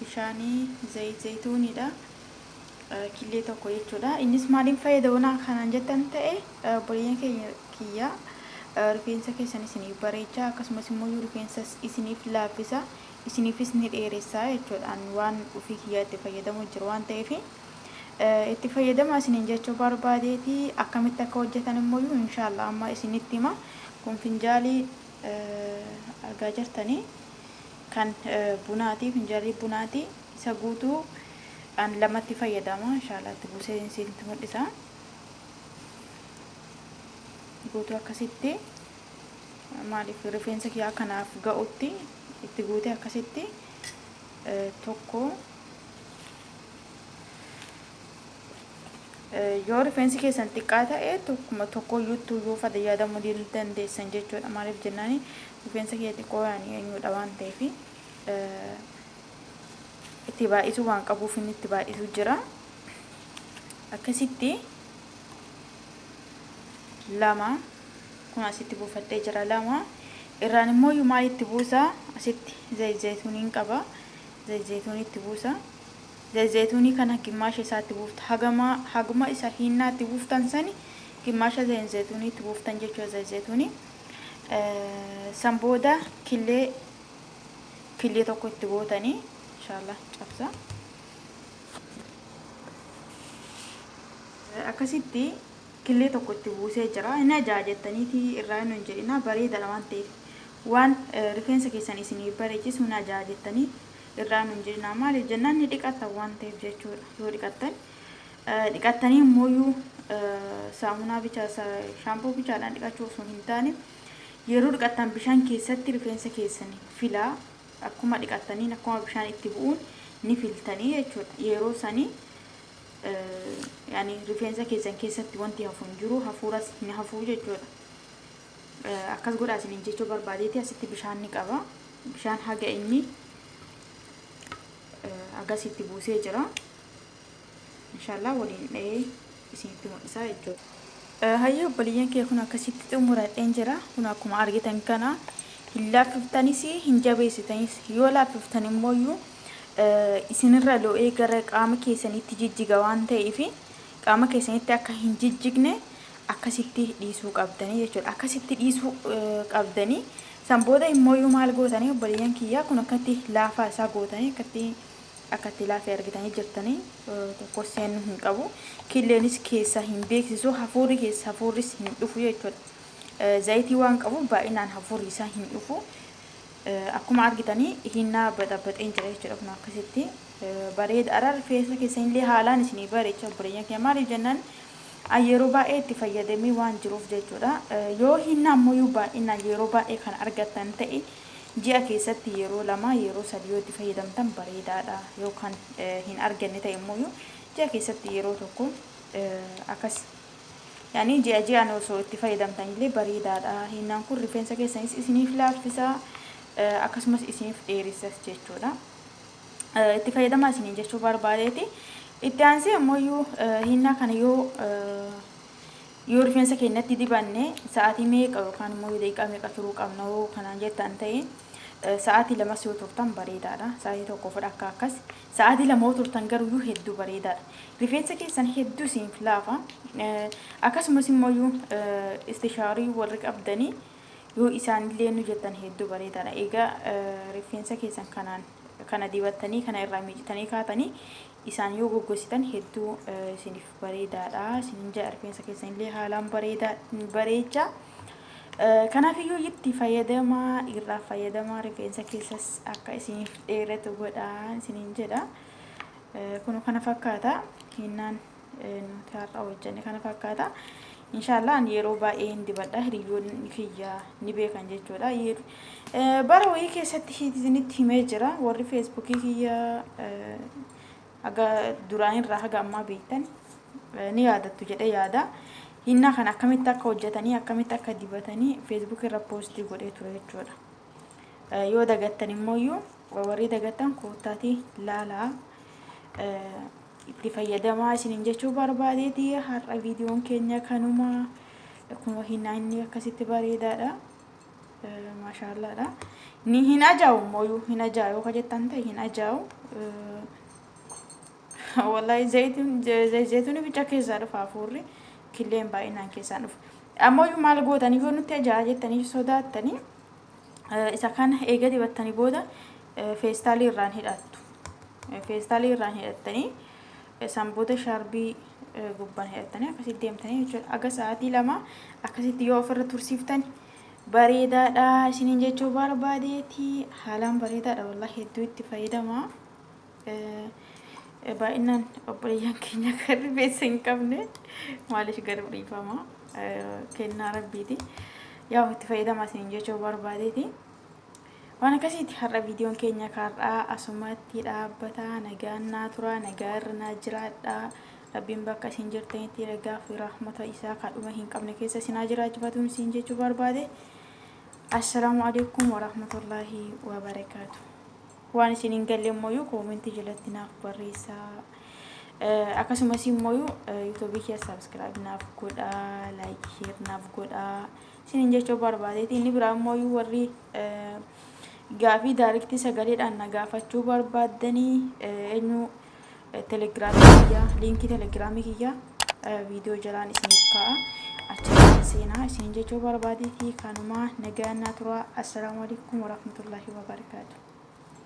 bishaani zayit zaytuuniidha killee tokko jechuudha innis maaliin fayyadamanaa kanaan jettan ta'e obboleeyyan keenya kiyya rifeensa keessan isiniif bareecha akkasumas immoo yoo rifeensa isiniif laaffisa isiniifis ni dheeressaa jechuudhaan waan ofii kiyyaa itti fayyadamu jiru waan ta'eef itti fayyadama isiniin jechuu barbaadeeti akkamitti akka hojjetan immoo inshaallah amma isinitti hima kun finjaalii argaa jirtanii kan bunaati finjaalii bunaati isa guutuu an lamatti fayyadama inshaallah itti buusee isinitti mul'isa guutuu akkasitti maaliif rifeensa kiyyaa kanaaf ga'utti itti guutee akkasitti tokko Yoo rifeensi keessan xiqqaa ta'e tokkuma tokko iyyuuttuu yoo fada yaadamuu dil- dandeessan jechuudha. Maaliif jennaani rifeensa kiyya xiqqoo yaani eenyudha waan ta'eef eh, itti baay'isuu waan qabuuf inni itti baay'isuu jira. Akkasitti lama kun asitti buufadhee jira lama irraan immoo iyyuu maal itti buusa asitti zayit zayituuniin qaba zayit zayituunii itti buusa. Zayzaytunii kana gimmaasha isaa itti buufta. Hagama haguma isa hiinnaa itti buuftan sani gimmaasha zayinzaytunii itti buuftan jechuudha zayzaytunii. San booda killee killee tokko itti gootanii inshallah cabsa. Akkasitti killee tokko itti buusee jira. Inni ajaa jettaniiti irraa hin hin jedhina bareedadha waan ta'eef. Waan rifeensa keessan isiniif bareechisu hin ajaa jettanii irraa nun jennaa maaliif jennaan ni dhiqattan waan ta'eef jechuudha yoo dhiqattan dhiqattanii immooyyuu saamunaa bicha shaampoo bichaadhaan dhiqachuu osoo hin taane yeroo dhiqattan bishaan keessatti rifeensa keessanii filaa akkuma dhiqattaniin akkuma bishaan itti bu'uun ni filtanii jechuudha yeroo sanii yani rifeensa keessan keessatti wanti hafu hin jiru hafuuras hin hafuu jechuudha Akkas godhaa isiniin jechuu barbaadeeti asitti bishaan ni qaba. Bishaan haga inni agasitti buusee jira. Inshaallah waliin dha'ee isinitti mul'isaa jechuudha. Hayyee obboleeyyan kee kun akkasitti xumuradheen jira. Kun akkuma argitan kana hin laaffiftanis hin jabeessitanis yoo laaffiftan immoo isinirra lo'ee gara qaama keessanitti jijjiga waan ta'eef Qaama keessanitti akka hin jijjigne akkasitti dhiisuu qabdanii jechuudha. Akkasitti dhiisuu qabdanii san booda immooyyuu maal gootanii obboleeyyan kiyyaa kun akkatti laafaa isaa gootanii akkatti akkatti laafee argitanii jirtanii tokko seennuu hin qabu. Killeenis keessaa hin beeksisu hafuurri keessa hafuurris hin dhufu jechuudha. Zayitii waan qabuuf baay'inaan hafuurri isaa hin dhufu. Akkuma argitanii hinnaa baxabaxeen jira jechuudha kun akkasitti bareeda araa rifeensa keessanillee haalaan isinii bareecha obboleeyyan kee maaliif jennaan an yeroo baay'ee itti fayyadamee waan jiruuf jechuudha yoo hinnaa ammoo baay'inaan yeroo baay'ee kan argattan ta'e ji'a keessatti yeroo lama yeroo sadi yoo itti fayyadamtan bareedaadha yoo kan hin arganne ta'e immoo ji'a keessatti yeroo tokko akkas Yani ji'a ji'an osoo itti fayyadamtan illee bareedaadha. Hiinnaan kun rifeensa keessanis isiniif laaffisa, akkasumas isiniif dheeressas jechuudha. Itti fayyadamaa isiniin jechuu barbaadeeti. Itti aansee ammoo hiinnaa kana yoo yoo rifeensa keenyatti dibanne sa'aatii meeqa yookaan immoo yoo daqiiqaa meeqa turuu qabna yoo kanaan jettan ta'e sa'aatii lamas yoo turtan bareedaadha. Sa'aatii tokko fudha akka akkas Sa'aatii lama yoo turtan garuuyyuu hedduu bareedaadha. Rifeensa keessan hedduu isiinf laafa. Akkasumas immoo istishaarii warri qabdanii yoo isaanillee nu jettan hedduu bareedaadha. Egaa rifeensa keessan kanaan kana dibattanii kana irraa miicitanii kaatanii isaan yoo goggositan hedduu isiniif bareedaadha. Isinin ja'a rifeensa keessanillee haalaan bareedaa bareecha. Kanaafiyyuu itti fayyadamaa, irraa fayyadamaa rifeensa keessas akka isiniif dheeratu godhaa isiniin jedha. Kun kana fakkaata. Hinnaan nuti har'a hojjenne kana fakkaata. Inshaallah ani yeroo baay'ee hin dibadha. Hiriyyoonni kiyya ni beekan jechuudha. Bara wayii keessatti isinitti himee jira. Warri feesbuukii kiyya haga duraanirraa haga ammaa beektan ni yaadattu jedhee yaada. Hinnaa kana akkamitti akka hojjetanii akkamitti akka dibatanii Facebook irra poostii godhee ture jechuudha. Yoo dagattan immoo warri dagattan koottaatii laalaa itti fayyadamaa isiniin jechuu barbaadeeti har'a viidiyoon keenya kanuma akkuma hinnaa inni akkasitti bareedaadha. Maashaallaadha. Ni hin ajaa'u mooyuu hin ajaa'u ka jettan ta'e hin ajaa'u. Wallahi zayitiin zayituun bicha keessaa dhufa hafuurri killeen baay'inaan keessaan dhufa. Ammayyuu maal gootanii yoo nutti ajaa'a jettanii sodaattanii isa kana eega dibattanii booda feestaalii irraan hidhattu. Feestaalii irraan hidhattanii San booda shaarbii gubbaan hidhattanii akkasitti deemtanii jechuudha. Aga sa'aatii lama akkasitti yoo ofirra tursiiftani bareedaadha isiniin jechuu barbaadeeti. Haalaan bareedaadha wallahi hedduu itti fayyadama. Baay'inaan obboleeyyan keenya kan rifeensa hin qabne maaliif garuu dhiifama kennaa rabbiiti. Yaa itti fayyadama isiniin jechuu barbaadeeti. Waan akkasiiti har'a viidiyoon keenya kaar'aa asumatti dhaabbata nagaan naa turaa nagaa irra naa jiraadhaa rabbiin bakka isin jirtanitti ragaa fi rahmata isaa kadhuma hin qabne keessa isin haa jiraachifatuun isin jechuu barbaade assalaamu alaikum warahmatullaahi wabarakaatu waan isin hin galle immoo koomentii jalatti naaf barreessaa akkasumas immoo yuutuubii kee saabskiraayib naaf godhaa laayik sheer naaf godhaa Isiniin jechuu barbaadeeti. Inni biraa immoo warri gaafii daariktii sagaleedhaan na gaafachuu barbaaddanii eenyu telegiraamii kiyyaa liinkii telegiraamii kiyyaa viidiyoo jalaan isiniif kaa'a. Achiin seenaa isiniin jechuu barbaadeeti. Kanumaa nagaan naa turaa. Assalaamu alaikum warahmatullaahi wabarakaatu.